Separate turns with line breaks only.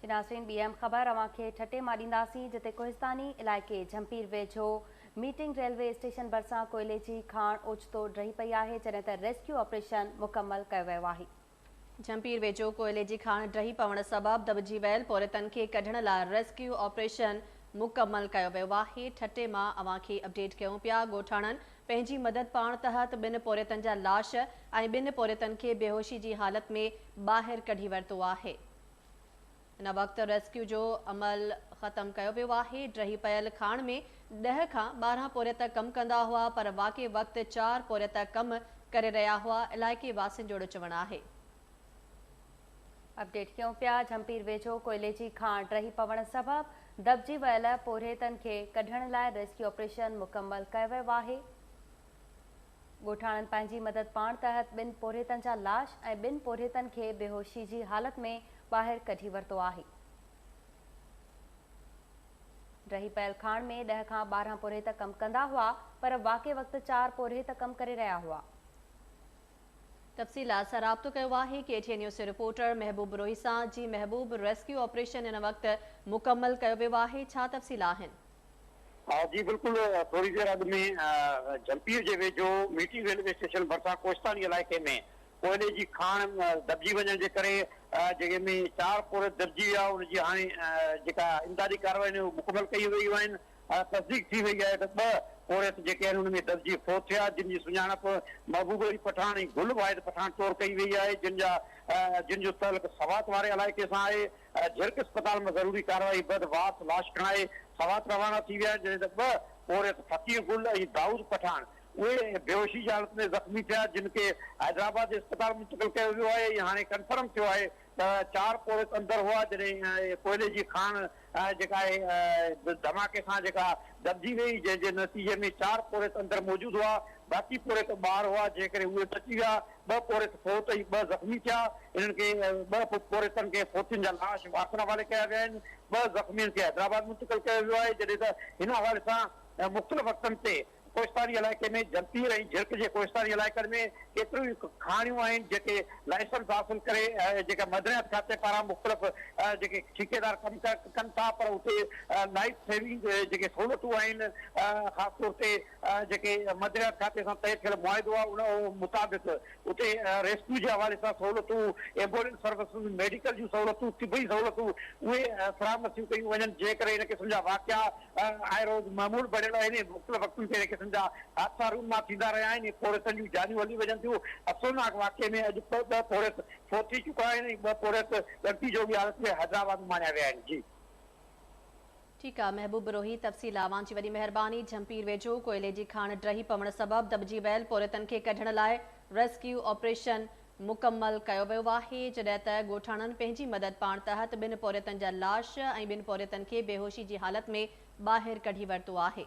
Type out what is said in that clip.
جي ناظرين ٻي اهم خبر اوهان کي ٺٽي مان ڏينداسين جتي ڪوهستاني علائقي جهمپير ويجهو ميٽنگ ريلوي اسٽيشن ڀرسان ڪوئلي جي کاڻ اوچتو ڊهي پئي آهي جڏهن ته ريسڪيو آپريشن مڪمل ڪيو ويو آهي. جهمپير
ويجهو ڪوئلي جي کاڻ ڊهي پوڻ سبب دٻجي ويل پورهيتن کي ڪڍڻ لاء ريسڪيو آپريشن مڪمل ڪيو ويو آهي ٺٽي مان اوهان کي اپڊيٽ ڪيون پيا ڳوٺاڻن پنهنجي مدد پاڻ تحت ٻن پورهيتن جا لاش ۽ ٻن پورهيتن کي بيهوشي جي حالت ۾ ٻاهر ڪڍي ورتو آهي. هن وقت ريسڪيو جو عمل ختم ڪيو ويو آهي. ڊهي پيل کاڻ ۾ ڏهه کان ٻارهن پورهيت ڪم ڪندا هئا پر واقعي وقت چار پورهيت ڪم ڪري رهيا هئا، علائقي واسين جوڙو چوڻ آهي.
اپڊيٽ ڪيون پيا جهمپير ويجهو ڪوئلي جي کان ڊهي پوڻ سبب دٻجي ويل پورهيتن کي ڪڍڻ لاء ريسڪيو آپريشن مڪمل ڪيو ويو آهي ڳوٺاڻن پنهنجي مدد پاڻ تحت ٻن پورهيتن جا لاش ۽ ٻن پورهيتن کي بيهوشي جي حالت ۾ ٻاهر ڪڍي ورتو آهي ڊهي پيل کان ۾ ڏهه کان ٻارهن پورهيت ڪم ڪندا هئا پر واقعي وقت چار پورهيت ڪم ڪري رهيا هئا تفصيلات
سان رابطو ڪيو آهي ڪي ٽي اين نيوز جي رپورٽر محبوب بروهي سان جي محبوب ريسڪيو آپريشن هن وقت مڪمل ڪيو ويو آهي ڇا تفصيل آهن. جي
بلڪل ٿوري دير اڳ ۾ جهمپير جي ويجهو ميٽي ريلوي اسٽيشن ڀرسان ڪوهستاني علائقي ۾ ڪوئلي جي کاڻ دٻجي وڃڻ جي ڪري جنهن ۾ چار پور دٻجي ويا ان جي هاڻي جيڪا امدادي ڪاروايون آهن اهي مڪمل ڪيون ويون آهن. هاڻ تصديق ٿي وئي آهي ته ٻه پورهيت جيڪي آهن ان ۾ دٻجي فوت ٿيا جن جي سڃاڻپ محبوب علي پٺاڻ ۽ گل واحد پٺاڻ طور ڪئي وئي آهي جن جا جن جو تعلق سوات واري علائقي سان آهي جهرڪ اسپتال مان ضروري ڪارروائي بعد وارث لاش کڻائي سوات روانا ٿي ويا آهن جڏهن ته ٻه پورهيت فقير گل ۽ دائود پٺاڻ اهي بيهوشي جي حالت ۾ زخمي ٿيا جن کي حيدرآباد جي اسپتال منتقل ڪيو ويو آهي ۽ هاڻي ڪنفرم ٿيو آهي ته چار پوڙهيت اندر هئا جڏهن ڪوئلي جي کاڻ جيڪا آهي ڌماڪي سان جيڪا دٻجي وئي جنهن جي نتيجي ۾ چار پوڙهيت اندر موجود هئا باقي پوڙهيت ٻاهر هئا جنهن ڪري اهي بچي ويا ٻه پوڙهيت فوت ۽ ٻه زخمي ٿيا انهن کي ٻه پوڙهيتن کي فوتين جا لاش وارثن حوالي ڪيا ويا آهن ٻه زخمين کي حيدرآباد منتقل ڪيو ويو آهي جڏهن ته هن حوالي سان مختلف وقتن تي ڪوهستاني علائقي ۾ جهمپير ۽ جهرڪ جي ڪوهستاني علائقن ۾ ڪيتريون ئي کاڻيون آهن جيڪي لائسنس حاصل ڪري جيڪا معدنيات کاتي پاران مختلف جيڪي ٺيڪيدار ڪم ڪن ٿا پر اتي لائف سيونگ جيڪي سهولتون آهن خاص طور تي جيڪي معدنيات کاتي سان طئي ٿيل معاهدو آهي ان مطابق اتي ريسڪيو جي حوالي سان سهولتون، ايمبولينس سروسز، ميڊيڪل جون سهولتون، طبي سهولتون اهي فراهم نٿيون ڪيون وڃن، جنهن ڪري هن قسم جا واقعا آء روز معمول بڻيل آهن ۽ مختلف وقتن تي هن قسم جا حادثا رونما ٿيندا رهيا آهن ۽ پوڙهيتن جون جانيون هلي وڃن ٿيون. افسوسناڪ واقعي ۾ اڄ به ٻه پوڙهيت فوت ٿي چڪا آهن ۽ ٻه پوڙهيت ڳڻتي جوڳي حالت ۾ حيدرآباد ماڻيا ويا آهن. جي.
ٺيڪ آ محبوب بروهي تفصيل اوهان جي وڏي مهرباني جهمپير ويجهو ڪوئلي جي کاڻ ڊهي پوڻ سبب دٻجي ويل پورهيتن کي ڪڍڻ لاء ريسڪيو آپريشن مڪمل ڪيو ويو آهي جڏهن ته ڳوٺاڻن پنهنجي مدد پاڻ تحت ٻن پورهيتن جا لاش ۽ ٻن پورهيتن کي بيهوشي جي حالت ۾ ٻاهر ڪڍي ورتو آهي.